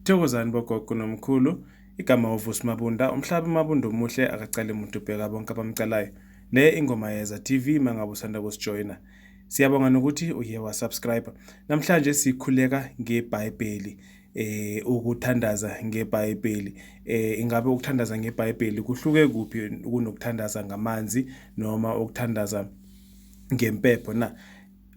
Thokozani bogogo nomkhulu igama uvusi mabunda umhlaba umabunda omuhle akacali muntu ubheka bonke abamcalayo le ingoma yeza tv mangabe usanda kusijoyina siyabonga nokuthi uye wasubscribe namhlanje sikhuleka ngebhayibheli eh ukuthandaza ngebhayibheli eh ingabe ukuthandaza ngebhayibheli kuhluke kuphi kunokuthandaza ngamanzi noma ukuthandaza ngempepho na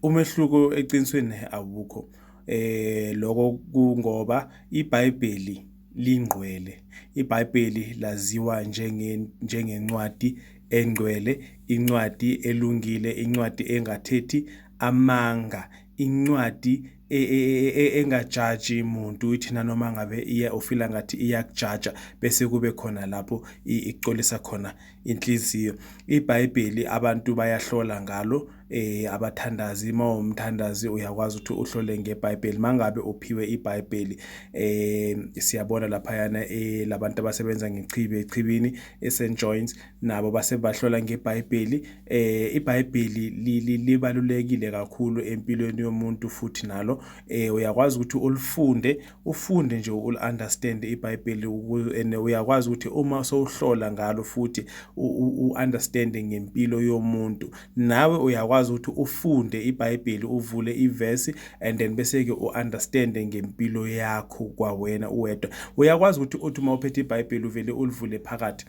Umehluko eqinisweni awukho. Eh lokho kungoba iBhayibheli lingqwele. IBhayibheli laziwa njenge njengencwadi engcwele, incwadi elungile, incwadi engathethi amanga, incwadi e, e, e, engajaji muntu ithi nanoma ngabe iya ufila ngathi iyakujaja bese kube khona lapho ixolisa khona inhliziyo. IBhayibheli abantu bayahlola ngalo eh abathandazi uma umthandazi uyakwazi ukuthi uhlole ngeBhayibheli mangabe uphiwe iBhayibheli eh siyabona lapha yana eh labantu abasebenza ngechibi echibini eSt John's nabo basebahlola ngeBhayibheli eh iBhayibheli libalulekile kakhulu empilweni yomuntu futhi nalo eh uyakwazi ukuthi ulifunde ufunde nje ul understand iBhayibheli ukuze and uyakwazi ukuthi uma sowuhlola ngalo futhi u understand ngempilo yomuntu nawe uyakwazi ukuthi ufunde iBhayibheli uvule iverse and then bese ke u understand ngempilo yakho kwawena uwedwa uyakwazi ukuthi uthi uma uphethe iBhayibheli uvele ulivule phakathi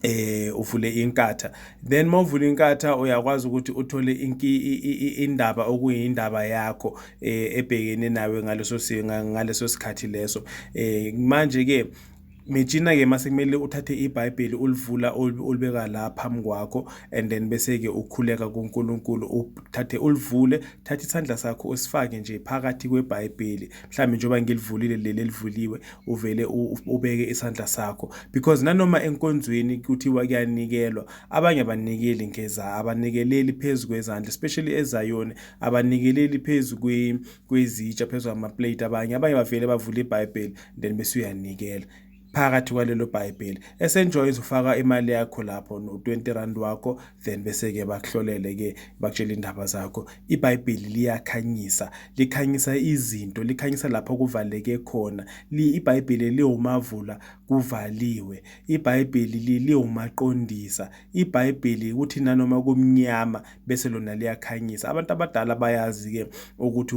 eh uvule inkatha then mawuvula inkatha uyakwazi ukuthi uthole indaba okuyindaba yakho eh, ebhekene nawe ngaleso ngaleso sikhathi leso eh manje ke Mejina ke mase kumele uthathe iBhayibheli ulivula ulibeka la phambi kwakho and then bese ke ukhuleka kuNkulunkulu uthathe ulivule thatha isandla sakho usifake nje phakathi kweBhayibheli mhlambe njengoba ngilivulile leli elivuliwe uvele ubeke isandla sakho because nanoma enkonzweni kuthiwa kuyanikelwa abanye abanikeli ngeza abanikeleli phezulu kwezandla especially ezayoni abanikeleli phezulu kwezitsha phezulu amaplate abanye abanye bavele bavule ibhayibheli then bese uyanikela phakathi kwalelo bhayibheli esenjoy uzofaka imali yakho lapho no-20 rand wakho then bese-ke bakuhlolele-ke bakutshela iy'ndaba zakho ibhayibheli liyakhanyisa likhanyisa izinto likhanyisa lapho kuvaleke khona ibhayibheli liwumavula kuvaliwe ibhayibheli liwumaqondisa ibhayibheli ukuthi nanoma kumnyama bese lona liyakhanyisa abantu abadala bayazi-ke ukuthi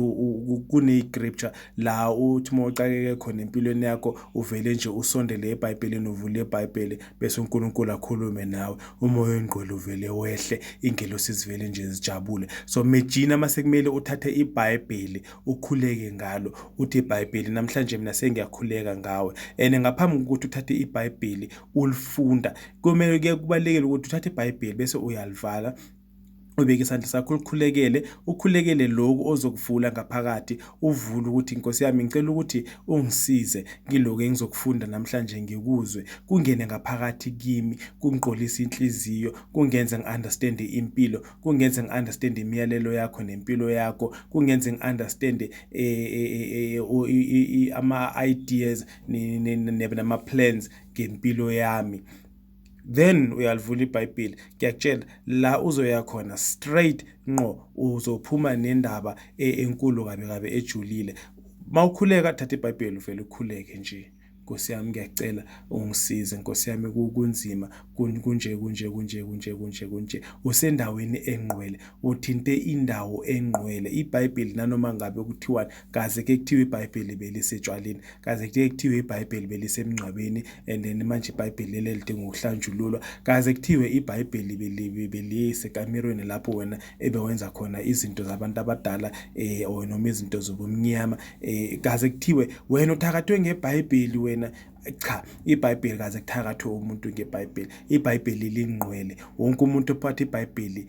kune-scripture la uthi uma uxakeke khona empilweni yakho uvele nje usondele ebhayibhelini uvule ibhayibheli bese uNkulunkulu akhulume nawe umoya oyingqwele uvele wehle ingelosi zivele nje zijabule so mejina masekumele uthathe iBhayibheli ukhuleke ngalo uthi iBhayibheli namhlanje mina sengiyakhuleka ngawe and ngaphambi kokuthi uthathe iBhayibheli ulifunda kumele kubalekele ukuthi uthathe iBhayibheli bese uyalivala ubeke isandla sakho ulikhulekele ukhulekele lokhu ozokuvula ngaphakathi uvule ukuthi nkosi yami ngicela ukuthi ungisize ngiloku engizokufunda namhlanje ngikuzwe kungene ngaphakathi kimi kungiqolisa inhliziyo kungenze ngi-understand impilo kungenze ngi-understand imiyalelo yakho nempilo yakho kungenze ngi-understand eh, eh, eh, ama-ideas nama-plans ngempilo yami then uyalivula ibhayibheli ngiyakutshela la uzoya khona straight nqo uzophuma nendaba e, enkulu kabi kabi ejulile mawukhuleka thatha ibhayibheli uvele ukhuleke nje Nkosi yami ngiyacela ungisize Nkosi yami kunzima kunje kunje kunje kunje kunje kunje usendaweni engqwele uthinte indawo engqwele iBhayibheli nanoma ngabe kuthiwani kaze ke kuthiwa ibhayibheli belisetshwaleni kaze ke kuthiwa ibhayibheli belisemngcwabeni and then manje ibhayibheli leli lidinga ukuhlanjululwa kaze kuthiwe ibhayibheli beliyisekamirweni lapho wena ebewenza khona izinto zabantu abadala eh or noma izinto zobumnyama eh kaze kuthiwe wena uthakathwe ngebhayibheli wena cha ibhayibheli kaze kuthakathwe umuntu ngebhayibheli ibhayibheli lingqwele wonke umuntu ophatha ibhayibheli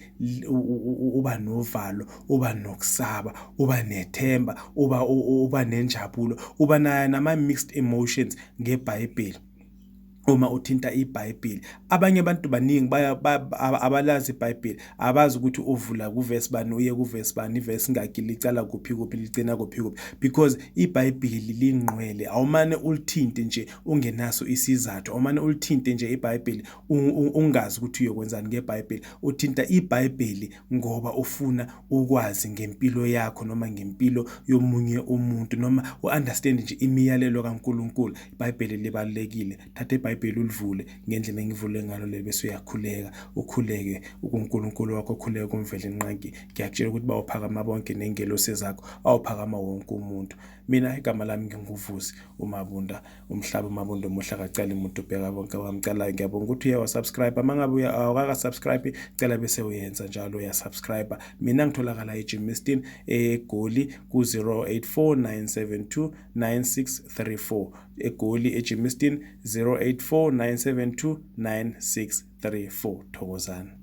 uba novalo uba nokusaba uba nethemba uba uba nenjabulo uba nayo nama-mixed emotions ngebhayibheli uma uthinta ibhayibheli abanye abantu baningi abalazi ibhayibheli abazi ukuthi uvula kuvesi bani uye kuvesi bani ivesi ngakhi licala kuphi kuphi ligcina kuphi kuphi because ibhayibheli lingqwele awumane ulithinte nje ungenaso isizathu awumane ulithinte nje ibhayibheli ungazi ukuthi uyokwenzani ngebhayibheli uthinta ibhayibheli ngoba ufuna ukwazi ngempilo yakho noma ngempilo yomunye umuntu noma u-understand nje imiyalelo kankulunkulu ibhayibheli libalulekile thatha ibhayibheli ulivule ngendlela engivule ngalo le bese uyakhuleka ukhuleke ukunkulunkulu wakho ukhuleke kumvele nqanki ngiyakutshela ukuthi bawuphakama bonke nengelosi zakho awuphakama wonke umuntu mina igama lami nginguvusi umabunda umhlaba umabondo omuhle akaceli muntu ubheka bonke wamcalayo ngiyabonga ukuthi uye wasubscribe uma ngabe awukaka-subscribe cela bese uyenza njalo uyasubscribe mina ngitholakala ejimistin egoli ku-084 972 egoli ejimistin 084 972 thokozani